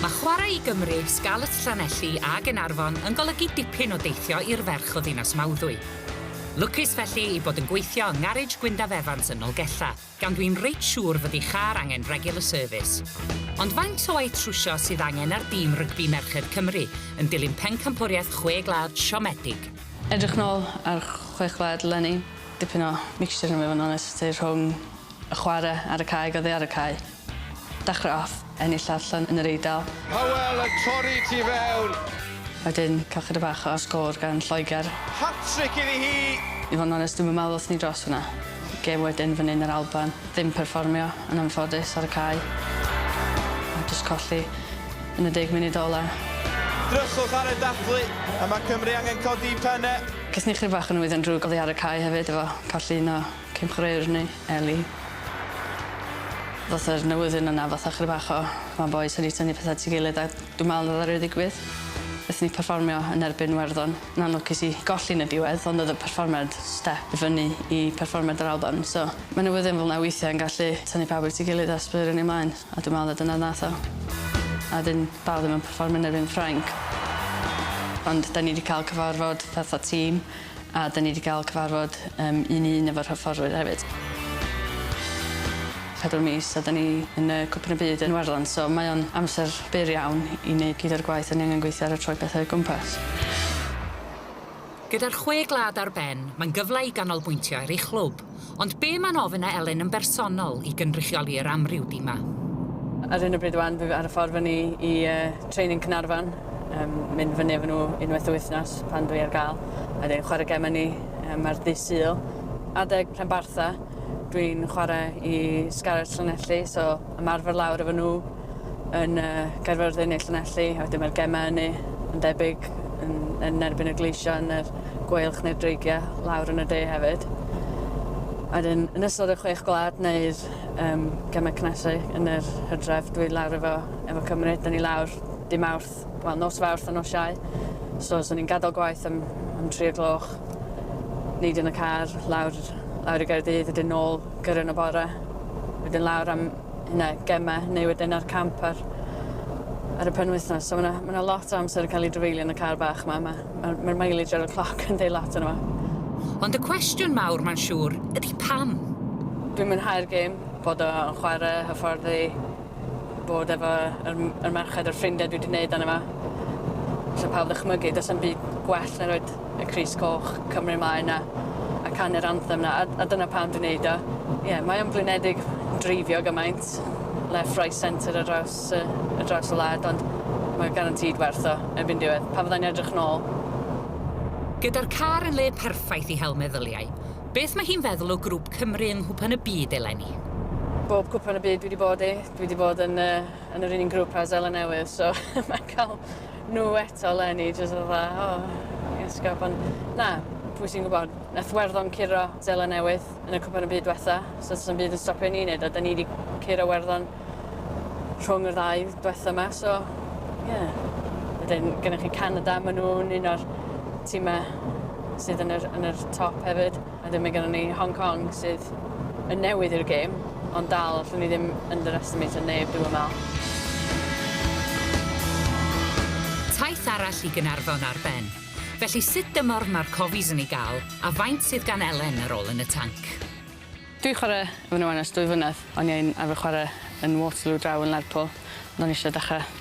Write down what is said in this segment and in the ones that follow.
Mae chwarae i Gymru, Scarlets Llanelli a Gaernarfon yn golygu dipyn o deithio i'r ferch o ddinas Mawddwy. Lwcus felly ei bod yn gweithio yng ngarej Gwyndaf Evans yn Nolgella, gan dwi'n reit siŵr fod ei char angen regular service. Ond faint o waith trwsio sydd angen ar dîm rygbi merched Cymru yn dilyn pencampwriaeth Chwe Gwlad siomedig? Edrych nôl ar Chwe Gwlad leni, dipyn o mixture i fod yn onest, rhwng y chwarae ar y cae ac oddi ar y cae. Dechreuodd ennill allan yn yr Eidal. Hywel yn torri tu fewn. Wedyn cael chydig bach o sgôr gan Lloegr. Hat-trick iddi hi! I fod yn onest, dwi'm yn meddwl wrthon ni dros hwnna. Gêm wedyn fan 'yn yr Alban. Ddim perfformio, yn anffodus, ar y cae. A jyst colli yn y deg munud ola'. Dryswch ar y dathlu, a mae Cymru angen codi penne. Gaethon ni chydig bach o nwyddau'n drwg oddi ar y cae hefyd efo colli un o Cymhreir ni, Ellie. Fatha yr newyddion yna fatha chydig bach o ma bois wedi tynnu petha at ei gilydd a dwi me'wl o'dd o reit ddigwydd. Nethon ni perfformio yn erbyn Iwerddon. Yn anlwcus i golli yn y diwedd ond o'dd y perfformiad step i fyny i perfformiad yr Alban so ma' newyddion fel 'na weithie yn gallu tynnu pawb at ei gilydd a sbwylio ni mlaen a dwi me'wl y dyna nath o. A 'dyn dal ddim yn perfformio yn erbyn Ffrainc. Ond 'dan ni 'di ca'l cyfarfod fatha tîm A 'da ni 'di ga'l cyfarfod yym un i un efo'r hyfforddwyr hefyd. Pedwar mis a 'da ni yn yy Cwpan y Byd yn Iwerddon so mae o'n amser byr iawn i neud gyd o'r gwaith 'da ni angen gweithio ar a troi pethe o gwmpas. Gyda'r chwe glad ar ben, mae'n gyfle i ganolbwyntio ar ei chlwb. Ond be' ma'n ofyn a Elen yn bersonol i gynrychioli yr amryw dima? Ar hyn o bryd wan dwi ar y ffordd fyny i training Caernarfon, mynd fyny efo nhw unwaith y wythnos pan dwi ar gael, a wedyn chwarae gem ynni ar ddydd Sul adeg Penbartha, dwi'n chwarae i Scarlets Llanelli so ymarfer lawr efo nhw. yn uh, Gaerfyrddin neu Llanelli, a wedyn mae'r gemau ynu yn debyg yn, yn erbyn y gleision, yn yr gweilch neu'r dreigiau lawr yn y de hefyd. A dyn, yn ystod y chwech gwlad neu'r um, gemau cnesu yn yr hydref, dwi lawr efo, efo Cymru, dyn ni lawr dim awrth, wel nos fawrth a nos iau. So, so ni'n gadael gwaith am, am tri o gloch, neud yn y car, lawr, lawr i Gaerdydd, wedyn nôl gyrra'n y bore, wedyn lawr am, hynna, gemau, neu wedyn ar camp ar, ar y penwythnos. So mae yna ma lot o amser yn cael ei drafeilio yn y car bach yma. Mae'r ma, ma, ma mileage ar y cloc yn deud lot yna. Ond y cwestiwn mawr, mae'n siŵr, ydy pam? Dwi'n mwynhau'r gêm, bod o'n chwarae, hyfforddi, bod efo yr, yr merched a'r ffrindiau dwi wedi gwneud dan yma. So pawb ddychmygu, does am byd gwell na roed y crys coch, Cymru mae 'na, a canu'r anthem 'na, a, a dyna pam dwi'n neud o. Ie, yeah, mae o'n blinedig dreifio gymaint, left, right, centre ar draws, uh, ar draws y wlad, ond mae garantid werth o erbyn diwedd. Pa fyddai'n edrych nôl? Gyda'r car yn le perffaith i hel meddyliau, beth mae hi'n feddwl o grwp Cymru yng Nghwpan y Byd eleni? bob cwpan y byd dwi wedi bod i, dwi wedi bod yn, uh, yn yr un grŵp a Zela Newydd, so mae'n cael nhw eto leni, jyst fatha, o, oh, iesgob, ond na, pwy sy'n gwybod, nath werddon curo Zela Newydd yn y cwpan y byd diwetha, so sy'n byd yn stopio ni wneud o, da ni wedi curo werddon rhwng y ddau diwetha yma, so, ie. Yeah. Wedyn, gennych chi Canada, maen nhw'n un o'r tîmau sydd yn yr, yn yr top hefyd. A wedyn mae gennon ni Hong Kong sydd yn newydd i'r gêm, ond dal allwn ni ddim underestimate o neb dwi'm yn meddwl. Taith arall i Gaernarfon ar ben. Felly sut dymor mae'r Cofies yn ei gael a faint sydd gan Elen ar ôl yn y tanc? Dwi 'di chwarae efo nhw wan ers dwy flynedd. O'n i yn arfer chwarae yn Waterloo draw yn Lerpwl, ond o'n i eisiau dechrau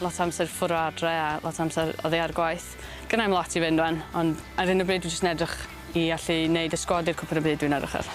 Lot o amser ffwr o adre a lot o amser oddi ar gwaith. Gynna i'm lot i fynd rwan, ond ar hyn o bryd dwi jyst yn edrych i allu neud y sgwad i'r cwpan y byd dwi'n edrych ar.